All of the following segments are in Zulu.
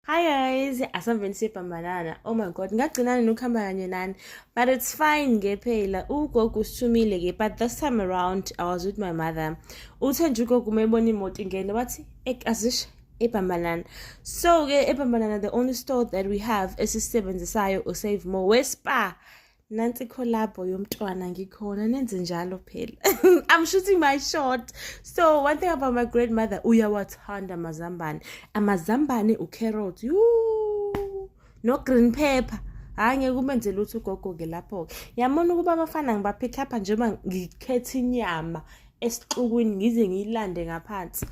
Hi guys, asaveni sibhambanana. Oh my god, ngagcinana nokuhamba kanye nani. But it's fine nge phela. Ugogo usithumile ke, but this time around I was with my mother. Uthe nje ugogo umebona imoto ingene wathi, "Ek azish ebhambanana." So ke ebhambanana the only store that we have esisebenzisayo u Save More we Spar. nansi collabo yomntwana ngikhona nenze njalo phela i'm shooting my shot so one thing about my grandmother uyawathanda amazambane amazambane ucarrot yuu no green pepper hhayi ngeke umenze lutho ugogo-ke lapho-ke yabona ukuba abafana ngibaphithapha njengoba ngikhetha inyama esixukwini ngize ngiyilande ngaphansi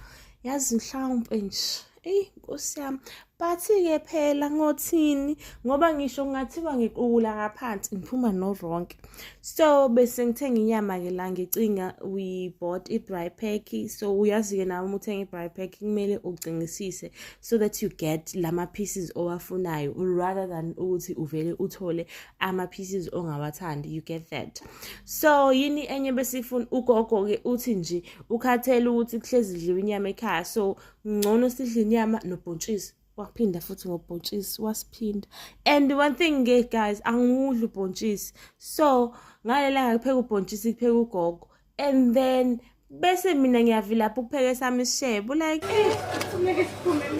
yazi mhlawumpe nje eyi nkosi yami but-ke phela ngothini ngoba ngisho kungathiwa ngiqukula ngaphansi ngiphuma noronke so bese ngithenga inyama-ke la ngicinga we bought i-bry pack so uyazi-ke nawe uma uthenga i-bry pack kumele ucingisise so that you get lama-pieces owafunayo rather than ukuthi uvele uthole ama-pieces ongawathandi you get that so yini enye besifuna ugogo-ke uthi nje ukhathele ukuthi kuhlezi dliwa inyama ekhaya so ngcono sidla inyama nobhontshisi waphinda futhi ngobhontshisi wasiphinda and one thing ke guys angiwudli ubhontshisi so ngalelanga kupheka ubhontshisi kupheka ugogo and then bese mina ngiyavilapha ukupheka esami isishebo like eh,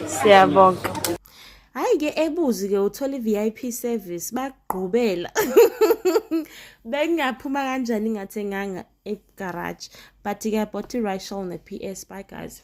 siyabonga hayi ke ebuzi ke uthola i-vip service bagqubela bengingaphuma kanjani ngathenganga egaraji but ke bought i-rishal ne-ps bye guys